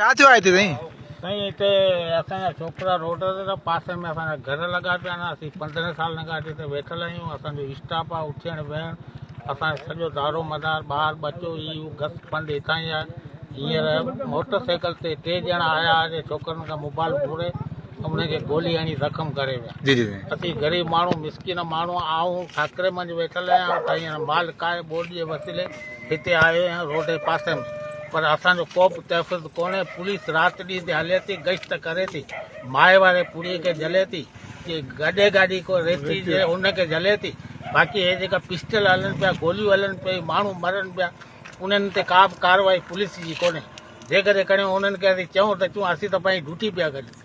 ڇا ٿيو آهي هتي سائين؟ سائين هتي اسان جا ڇوڪرا روڊ تي ته پاسي ۾ اسان جا گهر لڳا پيا آهن اسين پندرهن سالن کان هتي ويٺل آهيون اسان جو اسٽاپ آهي اٿيڻ ويهڻ اسان جو سڄو دارو مدار ٻار ٻچو هي هو گس پنڊ هتان ئي آهي هينئر موٽر سائيڪل تي ٽي ڄڻا آيا هئا جي ڇوڪرن کان موبائل ڦوڙي انهن کي گولي هڻي زخم ڪري ويا جي جي سائين اسين غريب ماڻهو مسڪين ماڻهو آئون ٺاڪري منجهه ويٺل آهيان ته هينئر مال ڪاهي ٻوڏ جي وسيلي هتي آيو آهيان روڊ جي پاسي ۾ پر اسان جو ڪو به تحفظ ڪونهي پوليس رات ڏينهن هتي هلي ٿي گشت ڪري ٿي مائي واري پوري کي جلي ٿي جي گڏي گاڏي ڪو ريتي جي ان کي جلي ٿي باقي هي جيڪا پسٽل هلن پيا گوليون هلن پيا ماڻهو مرن پيا انهن تي ڪا به ڪارروائي پوليس جي ڪونهي جيڪڏهن ڪريون انهن کي اسين چئون ته چون اسين ته پنهنجي ڊيوٽي پيا ڪريون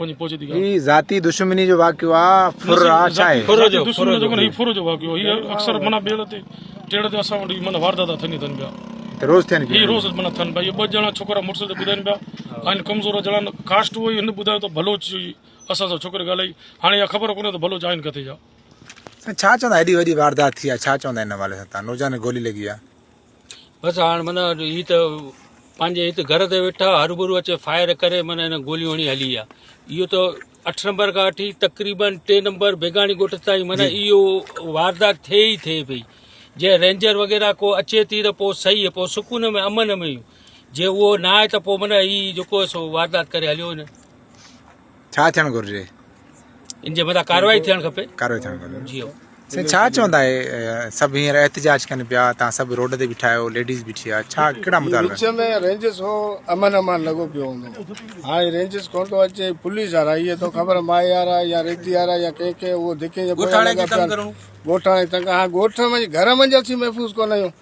هي ذاتي دشمني جو واقعو آ ڦر آ ڇا هي ڦر جو دشمني جو ڪونه هي ڦر جو واقعو هي اڪثر منا بيڙ تي ٽيڙ تي اسان وٽ منا واردا تھا ٿيندي ٿن پيا روز ٿين پيا هي روز منا ٿن پيا ٻه جڻا ڇوڪرا مڙس تي ٻڌائين پيا ان ڪمزور جڻا ڪاسٽ هو هن ٻڌايو ته بلوچ جو اسان سان ڇوڪري ڳالهائي هاڻي خبر ڪونه ته بلوچ آهن ڪٿي جا ڇا چوندا هيڏي وڏي واردات ٿي آ ڇا چوندا ان حوالي سان نوجوان گولي لڳي آ بس هاڻ من هي ته پنهنجي هت گهر تي ويٺا هربرو اچي فائر ڪري من هن گوليون هڻي هلي ويا اهو ته اٺ نمبر کان وٺي تقريبن ٽي نمبر بيگاڻي ڳوٺ تائين من اهو واردات ٿئي ئي ٿئي پئي جي رينجر وغيرہ کو اچي ٿي ته پوء صحيح پوء سڪون ۾ امن ۾ جي اهو نه آهي ته پوء من هي جيڪو سو واردات ڪري هليو وڃن ڇا ٿيڻ گهرجي؟ ان جي مٿان ڪارروائي ٿيڻ کپي. ڪارروائي ٿيڻ گهرجي. جيو. سائين ڇا چوندا اهي سڀ هينئر احتجاج ڪن پيا تان سڀ روڊ تي بيٺا آهيو ليڊيز بيٺي آهي ڇا ڪهڙا مطالبا آهن؟ وچ ۾ رينجس هو امن امان لڳو پيو هوندو هاڻي رينجس ڪون ٿو اچي پوليس وارا اهي ٿو خبر ماء يارا يا ريتي يارا يا ڪنهن کي اهو ڌڪين جي پويان لڳا پيا آهن ڳوٺاڻي تنگ هاڻي ڳوٺ ۾ گهر منجهس ئي محفوظ ڪون آهيون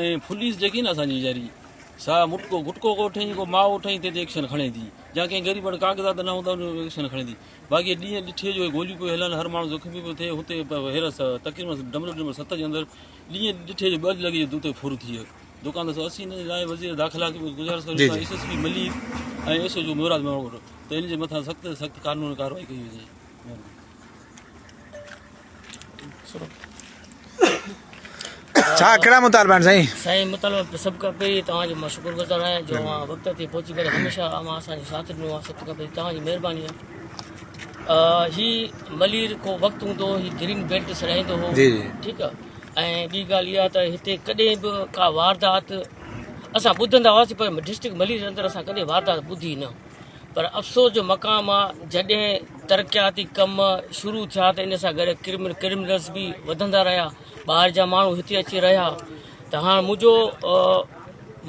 ۽ ڦليس جيڪي نه اسان جي ياري سا مٽڪو گٽڪو ڪو ٺهين ڪو ماء ٺهين تنهن تي ايڪشن کڻي ٿي جا ڪنهن غريب وٽ ڪاغذات نه هوندا انهن جو ايڪشن کڻي ٿي باقي ڏينهن ڏٺي جو گوليون پيو هلن هر ماڻهو زخمي پيو ٿئي هتي هيرس تقريبن ڊبليو ڊبليو ست جي اندر ڏينهن ڏٺي جو ٻج لڳي جو دتي ڦر ٿي ويو دڪان ته اسي نه لاء وزير داخلا کي گزارش ڪري ٿا ايس ايس پي ملي ۽ ايس او جو ميراج ماڻو ته ان جي مٿان سخت سخت قانون ڪارروائي ڪئي وڃي ڇا ڪهڙا مطالبا آهن سائين سائين مطالبا سڀ کان پهرين توهان جو مان شڪر گذار آهيان جو اوهان وقت تي پهچي ڪري هميشه اوهان اسان جو ساٿ ڏنو آهي سڀ کان پهرين توهان جي مهرباني آهي هي ملير ڪو وقت هوندو هو هي گرين بيلٽ سڏائيندو هو جي جي ٺيڪ آهي ۽ ٻي ڳالهه اها ته هتي ڪڏهن به ڪا واردات اسان ٻڌندا هئاسين پر ڊسٽرڪٽ ملير اندر اسان ڪڏهن واردات ٻڌي نه پر افسوس جو مقام آ جڏهن ترقياتي ڪم شروع ٿيا ته ان سان گڏ ڪرمن ڪرمنلز به وڌندا رهيا ٻاهر جا ماڻهو هتي اچي رهيا ته هاڻ منهنجو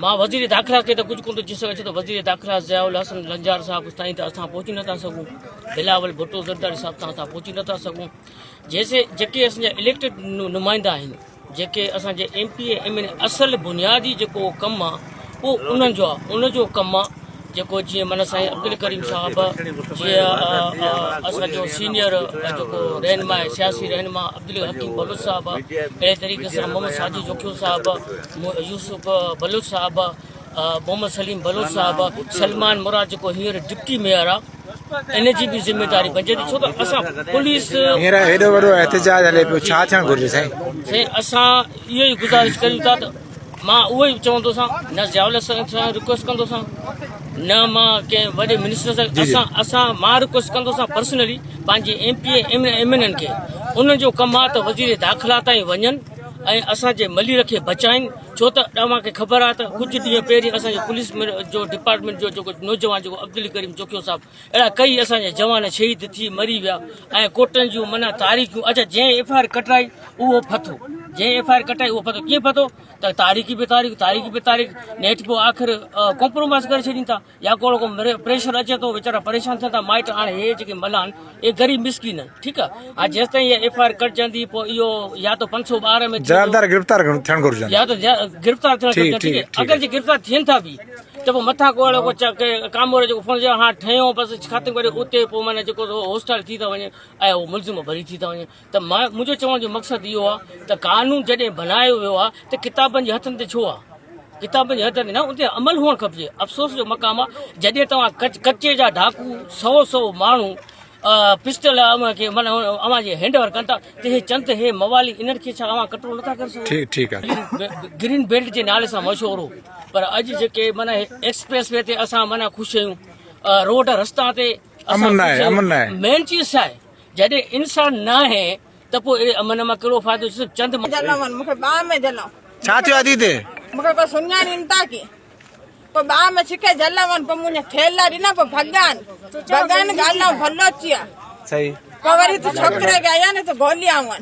مان وزير داخلا کي ته ڪجهه ڪون ٿو چي سگهان ڇو ته وزير داخلا ضياء الحسن لنجار صاحب تائين ته اسان پهچي نٿا سگهون بلاول ڀٽو زرداري صاحب تائين اسان پهچي نٿا سگهون جيسي جيڪي اسان جا اليڪٽيڊ نمائندا آهن جيڪي اسان جي ايم پي ايم اين اصل بنيادي جيڪو ڪم آ او انهن جو آ ان جو ڪم آ جيڪو جي من سائين عبدالڪريم صاحب جي اسان جو سينيئر جيڪو رهنما سياسي رهنما عبدالحڪيم بلوچ صاحب اهڙي طريقي سان محمد ساجد جوکيو صاحب يوسف بلوچ صاحب محمد سليم بلوچ صاحب سلمان مراد جيڪو هينئر ڊپٽي ميئر آ ان جي به ذميواري بنجي ٿي ڇو ته اسان پوليس هينئر هيڏو وڏو احتجاج هلي پيو ڇا ٿيڻ گهرجي سائين سائين اسان اهو ئي گزارش ڪريون ٿا ته مان اهو ئي چوندو سان نه زياول سان ريڪويسٽ ڪندو سان نه مان ڪنهن وڏي منسٽر سان اسان اسان مان ريڪويسٽ ڪندو سان پرسنلي پنهنجي M P M M N N کي انهن جو ڪم آ ته وزير داخلا تائين وڃن ۽ اسان جي ملير کي بچائين ڇو ته اوهان کي خبر آهي ته ڪجهه ڏينهن پهرين اسان جي پوليس جو ڊپارٽمينٽ جو جيڪو نوجوان جيڪو عبدالڪريم چوکيو صاحب اهڙا ڪيئي اسان جا جوان شهيد ٿي مري ويا ۽ ڪوٽن جون منا تاريخيون اچا جنهن ايف آر ڪٽرائي اهو پھتو جنهن ايف آر ڪٽرائي اهو پھتو ڪيئن پھتو ته تاريخي به تاريخ تاريخي به تاريخ نيٺ پوء آخر ڪمپرومائز ڪري ڇڏين ٿا يا ڪو ڪو پريشر اچي ٿو ويچارا پريشان ٿين ٿا مائٽ هاڻي هي جيڪي ملان اي غريب مسڪين آهن ٺيڪ آ ها جيستائين هي ايف آء آر ڪٽجندي پو ايو يا تو 512 ۾ جوابدار گرفتار ٿيڻ گهرجن يا تو گرفتار ٿيڻ گهرجن ٺيڪ آ اگر جي گرفتار ٿين ٿا به ته پو مٿا ڪو اهڙو ڪو ڪامور جو فون جا ها ٺهيو بس ختم ڪري اتي پو معنيٰ جيڪو هوسٽال ٿي ٿا وڃن اهو ملزم ڀري ٿي ٿا وڃن ته منهنجو چوڻ جو مقصد اهو آهي ته قانون جڏهن بنايو ويو آهي ته ڪتابن جي هٿن تي ڇو آهي ڪتابن جي هٿن تي نه ان تي عمل هئڻ کپجي افسوس جو مقام آهي جڏهن توهان ڪچي جا ڊاڪو سو سو ماڻهو پسٽل اوهان کي من اوهان جي هينڊ اوور ڪن ٿا ته هي چند هي موالي انهن کي ڇا اوهان ڪنٽرول نٿا ڪري سگهو ٺيڪ ٺيڪ آهي گرين بيلٽ جي نالي سان مشهور هو پر اڄ جيڪي من ايڪسپريس وي تي اسان من خوش آهيون روڊ رستا تي امن آهي امن آهي مين چيز ڇا آهي جڏهن انسان ناهي ته پوء اهڙي امن مان ڪهڙو فائدو جو صرف چند جنم مونکي باهه ۾ جنم ڇا ٿيو آدي تي مونکي ڪو سڃاڻين ٿا ڪي پوء باهه ۾ ڇڪي جل ون پوء مونکي ٿيلا ڏنا پوء ڀڳان ڀڳان ڳالهيون ڀلو چيا صحيح پوء وري ته ڇوڪري کي آيا نه ته گوليا ون